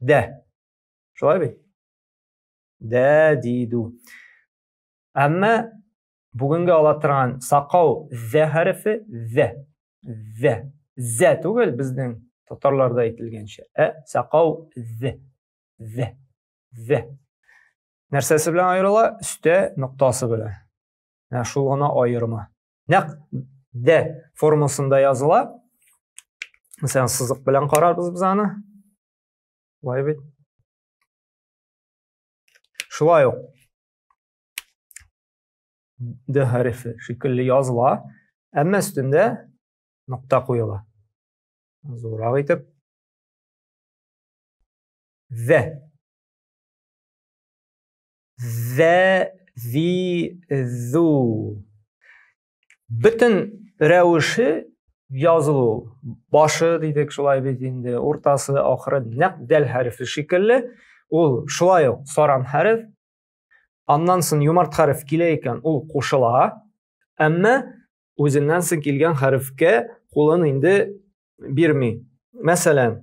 Дә. Шулай бит? Дә диду. Әмма бүгенге ала торган сакау зә хәрефе зә. Зә. Зә түгел безнең татарларда әйтелгәнчә. Ә сакау зә. Зә. Зә. Нәрсәсе белән аерыла? Өстә ноктасы белән. Ә шул гына аерма. нәкъ дә формасында языла мәсәлән сызык белән карарбыз без аны былай бит шулай ук д хәрефе шикелле языла әмма өстендә нокта куела зуррак итеп вә зе, зи, зу. Бөтен рәвеше язылу. Башы дидек шулай бит инде, уртасы, ахыры нәкъ дәл хәрефе шикелле. Ул шулай ук саран хәреф. Аннан соң юмарт хәреф килә икән, ул кушыла. Әмма үзеннән соң килгән хәрефкә кулын инде бирми. Мәсәлән,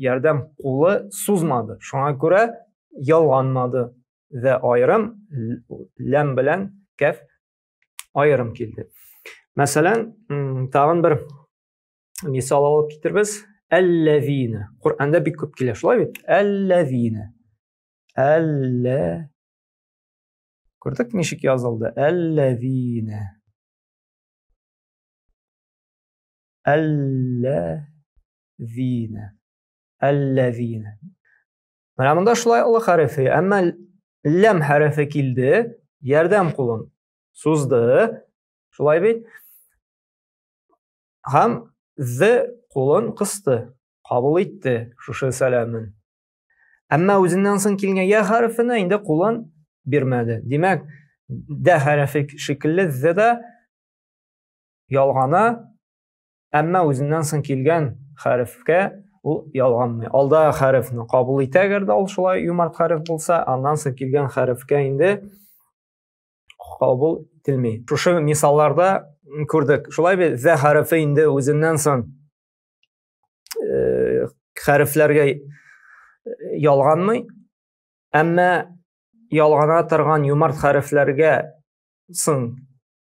ярдәм кулы сузмады. Шуңа күрә ялганмады. Вә аерым ләм белән кәф аерым килде. Мәсәлән, тагын бер мисал алып китербез. Әлләвина. Коръәндә бик күп килә, шулай бит? Әлләвина. Әллә Күрдек ничек язылды? Әлләвина. Әллә Әлләзина. Әлләзина. Менә монда шулай олы хәрефе, әмма ләм хәрефе килде, ярдәм кулын сузды. Шулай бит? Һәм з кулын кысты, кабул итте шушы сәламен. Әмма үзеннән соң килгән я хәрефенә инде кулын бирмәде. Димәк, дә хәрефе шикелле з да ялгана әмма үзеннән соң килгән хәрефкә ул ялганмый алда хәрефне кабул итә әгәр дә ул шулай юмарт хәреф булса аннан соң килгән хәрефкә инде кабул ителми шушы мисалларда күрдек шулай бит зә хәрефе инде үзеннән соң э, хәрефләргә э, ялганмый әмма ялгана торган юмарт хәрефләргә соң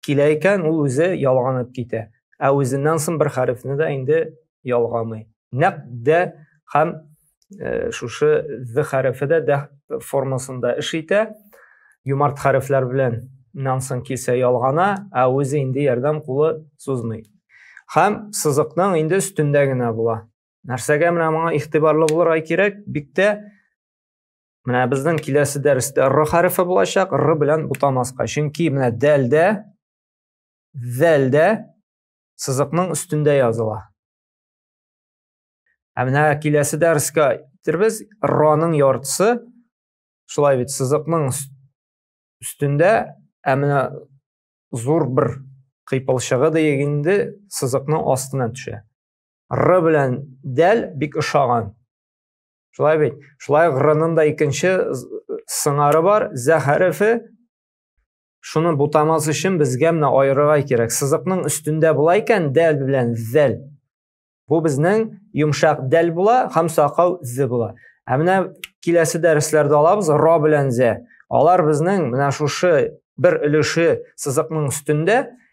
Килә икән, ул үзе ялганып китә. Ә үзеннән соң бер хәрефне дә инде ялгамый. Нәкъ дә һәм э, шушы д хәрефе дә дә формасында эш итә. Юмарт хәрефләр белән нан соң килсә ялгана, ә үзе инде ярдәм кулы сузмый. Һәм сызыкның инде өстендә генә була. Нәрсәгә менә моңа игътибарлы булырга кирәк? Биктә Менә безнең киләсе дәрестә р хәрефе булачак, р белән бутамаска. Чөнки менә дәлдә, зәлдә сызыкның өстендә языла. Ә менә киләсе дәрескә китербез, р-ның яртысы шулай бит сызыкның өстендә, ә менә зур бер кыйпылчыгы диек инде сызыкның астына төшә. Р белән дәл бик ошаган. Шулай бит. Шулай гырының да икенче сыңары бар, зә хәрефе. Шуны бутамас өчен безгә менә аерырга кирәк. Сызыкның өстендә була икән дәл белән зәл. Бу безнең йомшак дәл була һәм сакау зе була. Ә менә киләсе дәресләрдә алабыз ра белән зә. Алар безнең менә шушы бер өлеше сызыкның өстендә